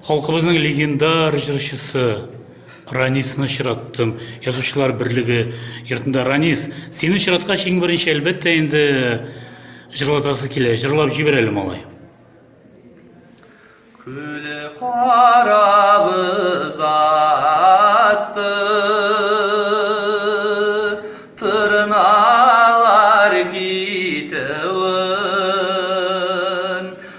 Халкыбызның легендар җырчысы Ранисны чираттым. Язучылар берлеге йортында Ранис, сине чираткач иң беренче әлбәттә инде җырлатасы килә. Җырлап җибәр әле, малай. Күле карап озатты, тырналар китүен,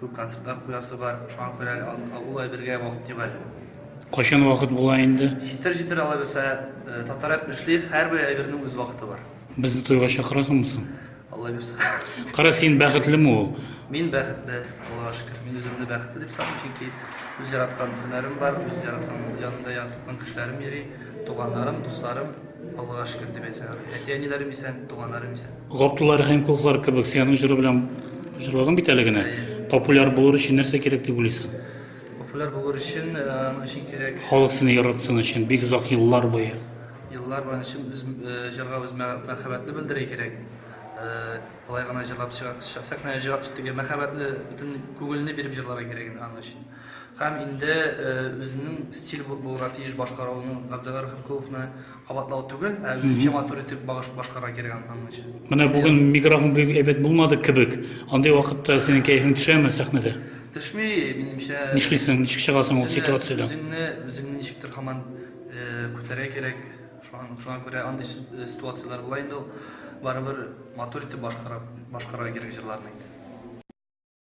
Күп концертлар куясы бар. Шуңа күрә ул әйбергә вакыт юк әле. Кайчан вакыт була инде? Җитер-җитер алайса э, татар әйтмешли, һәрбер әйбернең үз вакыты бар. Безне туйга чакырасыңмы соң? Алайса. Кара, син бәхетлеме ул? Мин бәхетле, Аллага шөкер. Мин үземне бәхетле дип саныйм, чөнки үз яраткан һөнәрем бар, үз яраткан янында яраткан кешеләрем йөри, туганнарым, дусларым. Аллага шөкер дип әйтсен әле. Әти-әниләрем исән, туганнарым исән. Гаптулла Рәхимковлар кебек сиянең җыры белән җырладың бит әле генә. Популяр булыр өчен нәрсә кирәк дип уйлыйсың? Популяр булыр өчен, э, аның өчен кирәк Халык сине яратсын өчен бик озак еллар буе. еллар буе өчен без э, җырга үз мәгә- мәхәббәтне белдерә кирәк. Э, Болай гына җырлап чыга- чыга- сәхнәгә җырлап чыктык. Мәхәббәтне, бөтен күңелне биреп җырларга кирәк инде аның өчен. Һәм инде үзенең стиль булырга тиеш башкаруының Габделар Хокуловны кабатлау түгел, ә үзенчә матур итеп багыш башкарырга кирәк аның өчен. Менә бүген микрофон бик әйбәт булмады кебек. Андый вакытта синең кәефең төшәме сәхнәдә? Төшми, минемчә. Нишлисең, ничек чыгасың ул ситуациядән? Үзеңне, үзеңне ничектер хаман күтәрә кирәк. Шуңа күрә андый ситуацияләр була инде ул. Барыбер матур итеп башкарырга кирәк җырларны инде.